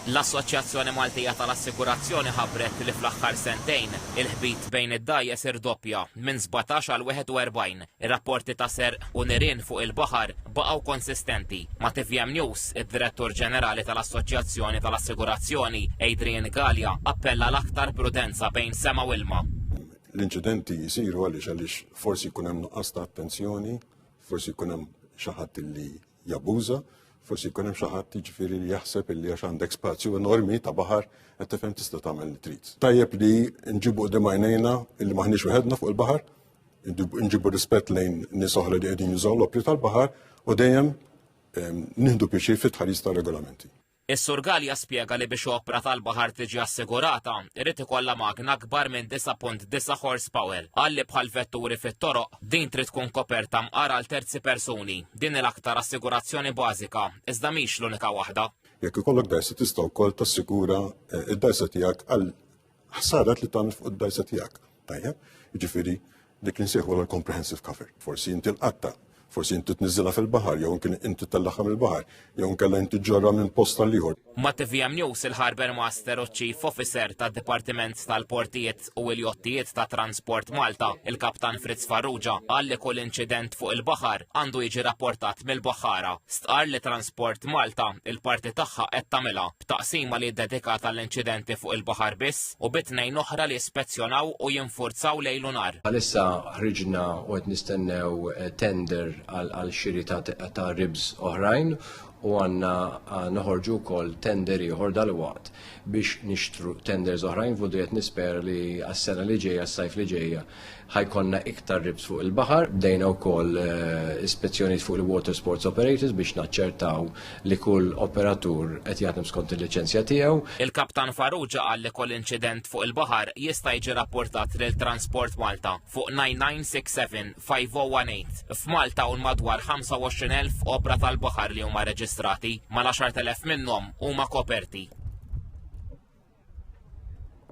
L-Assoċjazzjoni Maltija tal-Assigurazzjoni ħabbret li fl-aħħar sentejn, il-ħbit bejn id-dgħajjes irdoppja, minn sbatax għal 41. Ir-rapporti ta' serq u nirien fuq il-baħar baqgħu konsistenti. Ma' tvm News, id-Direttur Ġenerali tal-Assoċjazzjoni tal-Assigurazzjoni, Adrian Galea, appella għal aktar prudenza bejn sema u ilma. L-inċidenti jsiru għaliex għaliex forsi jkun hemm nuqqas ta' attenzjoni, forsi jkun hemm xi ħadd li jabbuża, forsi jkun hemm xi ħadd jiġifieri li jaħseb illi għax għandek spazju enormi ta' baħar qed tifhem tista' tagħmel li trid. Tajjeb li nġibu qudiem għajnejna illi maħniex wieħedna fuq il-baħar, nġibu rispett lejn nies oħra li qegħdin jużaw l-opri tal-baħar u dejjem ehm, nieħdu pjaċir fit-tħaris tar-regolamenti. Is-Sur Galea spjega li biex opra tal-baħar tiġi assigurata, irid ikollha magna akbar minn 9.9 horsepower. Qal li bħal vetturi fit-toroq, din trid tkun koperta mqar għal terzi persuni. Din hi l-aktar assigurazzjoni bażika, iżda mhix l-unika waħda. Jekk ikollok dgħajsa tista' wkoll tassigura eh, d-dgħajsa tiegħek għal Ħsarat li tagħmel fuq id-dajsa tiegħek. Tajjeb, jiġifieri dik li nsejħu l-comprehensive cover. Forsi inti l-qatta, forsi inti tniżilha fil-baħar, jew kien inti tellaqha mill-baħar, jew nkella inti ġorra minn post tal ieħor. Ma' TVM News il-Harbour Master u Chief Officer tad Dipartiment tal-Portijiet u l-Jottijiet ta' Transport Malta, il-Kaptan Fritz Farrugia, qal li kull inċident fuq il-baħar għandu jiġi rapportat mill-baħħara. Stqar li Transport Malta il-parti tagħha qed tagħmilha. b'taqsima li ddedikata għall-inċidenti fuq il-baħar biss u bi tnejn oħra li jispezzjonaw u jinfurzaw lejl u nhar. Bħalissa ħriġna u qed nistennew tender għal xiri ta' RIBs oħrajn u għandna noħorġu wkoll tender ieħor dalwaqt biex nixtru tenders oħrajn f'Budrijet nispera li għas-sena li ġejja, s-sajf li ġejja, ħajkonna iktar ribs fuq il-baħar, bdejna wkoll eh, ispezzjonijiet fuq il-water sports operators biex naċċertaw li kull operatur qed jaħdem skont il-liċenzja tiegħu. Il-Kaptan Farrugia qal li kull inċident fuq il-baħar jista' jiġi rapportat lil Transport Malta fuq 9967 5018. F'Malta u madwar 25,000 opra tal-baħar li huma reġistrati, mal-10,000 minnhom huma koperti.